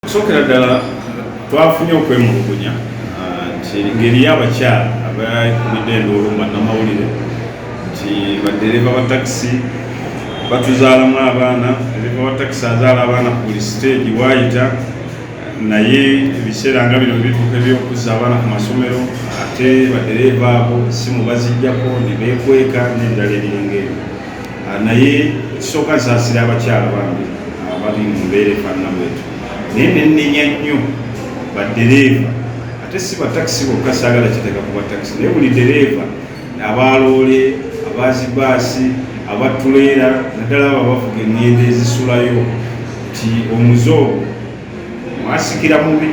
Kusokera ddala twafunye okwemulugunya ah, nti ngeri y'abakyala abakulidde enduulu bannamawulire nti baddereeva ba takisi batuzaalamu abaana dereeva wa takisi azaala abaana ku buli siteegi waayita naye ebiseera nga bino bituuka ebyokuzza abaana ku masomero ate badereeva abo simu bazijjako ne beekweka n'ebirala ebiringa ebyo Ah, naye ekisooka nsaasira abakyala bange abali mu mbeera efaanana bwetu naye nenenya nnyo baddereeva ate si batakisi bokka saagala kiteeka ku batakisi naye buli dereeva abaaloole abazibaasi abatuleera naddala abo abavuga engendo ezisulayo nti omuze ogwo mwasikira mubi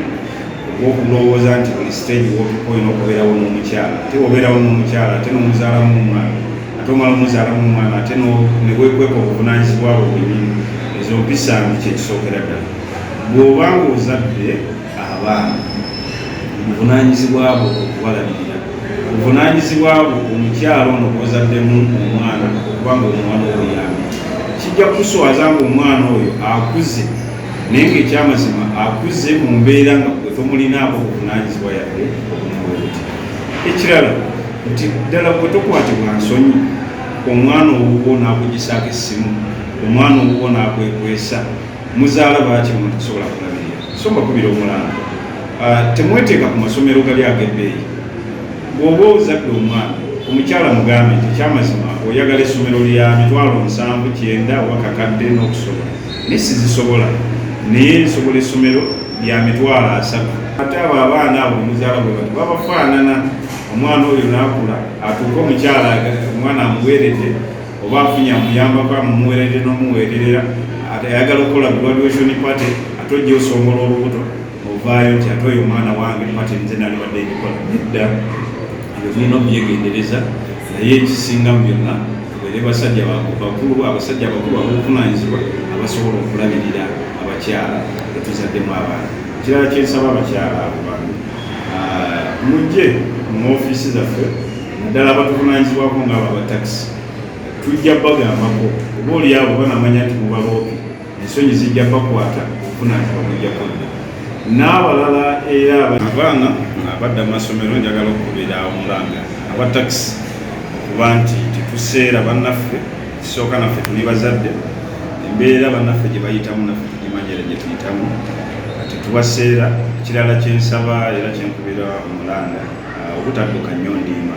okulowooza nti buli siteegi wotuka olina okubeerawo n'omukyala ate wobeerawo n'omukyala ate n'omuzaalamu omwana ate omala omuzaalamu omwana ate nebwekweka obuvunanyizibwa bwe bwenyini ezo mpisa mbi kyekisookera ddala bw'oba nga ozadde abaana obuvunanyizibwa bwo okubalabirira obuvunanyizibwa bwo omukyala ono gwozaddemu omwana okuba nga omwana obuyambi kijja kukuswaza nga omwana oyo akuze naye ng'ekyamazima akuze mu mbeera nga gwe tomulinaako obuvunaanyizibwa yadde obumuwebuti ekirala nti ddala gwe tokwatibwa nsonyi omwana owuwo n'akugisaako essimu omwana owuwo n'akwekwesa muzaala baaki omuntu kusobola kulabirira so mbakubira omulanga ah, temweteeka ku masomero gali ag'ebbeeyi bw'oba ozadde omwana omukyala mugambe nti ekyamazima oyagala essomero lya mitwalo nsanvu kyenda oba kakadde n'okusobola ne sizisobola naye nsobola essomero lya mitwalo asatu ate abo abaana abo muzaala bwe bati babafaanana omwana oyo naakula atuuke omukyala omwana amuweerede oba afunye amuyambako amumuweerede n'omuweererera ayagala okukola graduation party ate ojja osongola olubuto ovaayo nti ate oyo omwana wange pate nze nali wadde ebikola nedda ebyo mulina okubyegendereza naye ekisinga mu byonna tubeere basajja bakulu abasajja abakulu abobuvunanyizibwa abasobola okulabirira abakyala etuzaddemu abaana ekirala kyensaba abakyala abo bantu ah, mujje mu ofiisi zaffe naddala abatuvunanyizibwako ngaabo abatakisi tujja bagambako oba oliabo banamanya nti mubaloopi ensonyi zijja bakwata okufuna nti bamujja kudda n'abalala era abaana abadda mu masomero njagala okukubira omulanga aba takisi okuba nti tetuseera bannaffe kisooka naffe tuli bazadde embeera bannaffe gye bayitamu naffe tugimanyira gye tuyitamu kati tubaseera ekirala kyensaba era kyenkubira omulanga obutadduka nnyo ndiima